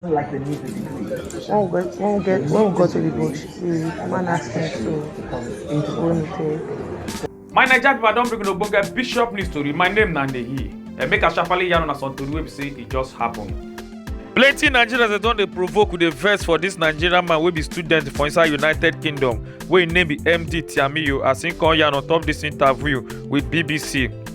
like the music degree. When we got, when we get, when we got to the bush, the man asked me to go and take. My Naija people, I don bring una ogbonge bishop news story. My name na Ndeyi. Eh, make I sharply yarn una some tori wey be say e just happen. plenty nigerians dey don dey provoke dey vex for dis nigerian man wey be student for inside united kingdom wey im name be md tiamiyu as im come yarn on top dis interview wit bbc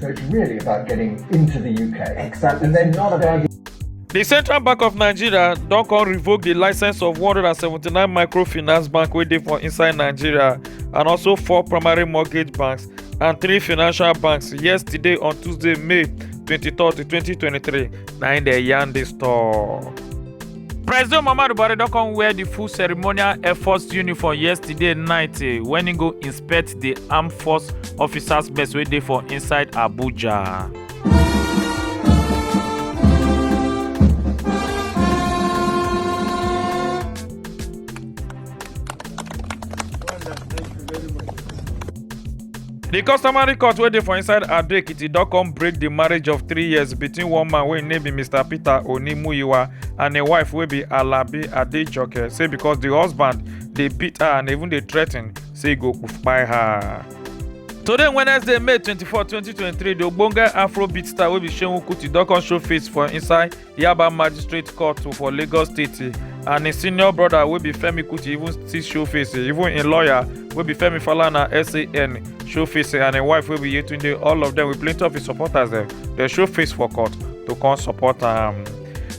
So it's really about getting into the UK. Exactly. And then not about the central bank of nigeria don come revoke the license of 179 microfinance bank wey dey for inside nigeria and also four primary mortgage banks and three financial banks yesterday on tuesday may 23 2023 na im dey yarn dis tok. president muhammadu buhari don come wear di full ceremonial efforts uniform yesterday night eh, wen im go inspect. respect di armed force officers base wey dey for inside abuja. di customary court wey dey for inside ado ekiti don come break di marriage of three years between one man wey im name be mr peter onimuyiwa and im wife wey be alabi adejoke say because di husband dey beat her and even dey threaten say e go kpai her. Today Wednesday, May 24, 2023, the ogbonge Afrobeat star wey be Seun Kuti don come show face for inside Yaba Magistrate Court for Lagos State and im senior brother wey be Femi Kuti even still show face even im lawyer wey be Femi Falana SAN show face and im wife wey be Yetunde all of them with plenty of im supporters dem dey show face for court to come support am.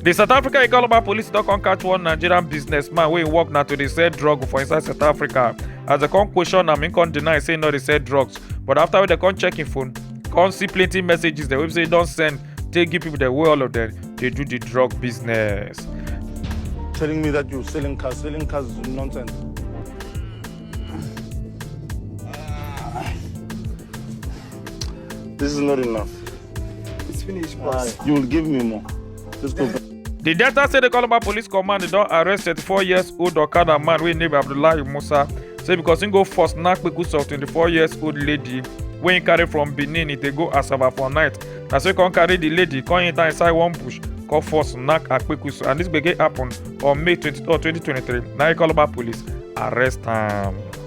di south africa economy police don come catch one nigerian businessman wey im work na to dey sell drug for inside south africa as dem come question am im come deny say im no dey sell drugs but after wey dem come check im phone come see plenty messages dem wey be say e don send take give people dem wey all of dem dey do the drug business. telling me that you're selling cars. Selling cars is nonsense. This is not enough. It's finished, boss. Uh, you will give me more. Let's go. The Delta State Calabar Police Command don arrest 34 years old Okada man wey name Abdullahi Musa say because he go first knack kpekus of 24 years old lady wey he carry from Benin e dey go Asaba for night na so he come carry the lady come enter inside one bush come force knack akpekusu and this gbege happen on May 23, 2023 na Calabar Police arrest am.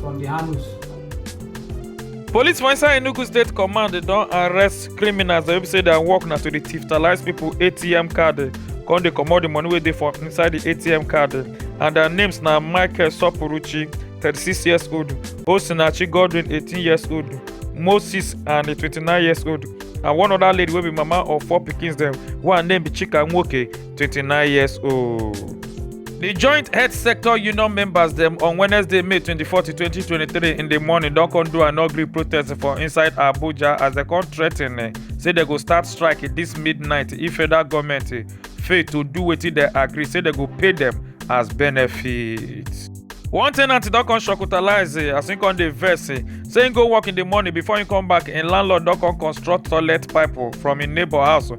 from the handles. Police for inside Enugu State Command they don arrest criminals wey be say their work na to dey thiftalize people ATM card eh, come dey comot the money wey dey for inside the ATM card eh, and their names na Michael Sopuruchi thirty-six years old, Osinachi Godwin eighteen years old, Moses and a twenty-nine years old and one other lady wey be mama of four pikins dem wey her name be Chika Nwoke 29 years old. The joint health sector union members dem on Wednesday, May 24, 2023 in the morning don come do an ugly protest for inside Abuja as dem come threaten eh, say dem go start strike this midnight if federal government eh, fail to do wetin dem agree say dem go pay dem as benefit. One tenant don come shock utilize eh, as im come dey vex eh, say im go work in the morning before im come back im landlord don come construct toilet pipe oh, from im neighbour house oh,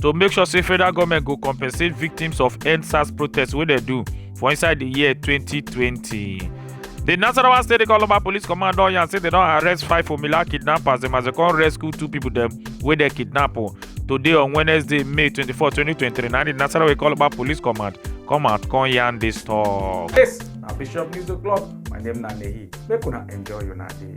to make sure say federal government go compensate victims of endsars protests wey dem do for inside di year 2020 di nasarawa state economic police command don yarn say dem don arrest five formula kidnappers dem as dem come rescue two pipo dem wey dem kidnap o today on wednesday may 24 2023 na di nasarawa economic police command come out come yarn dis tok. This na Bishop News O'Clock. My name na Nehi. Make una enjoy una day.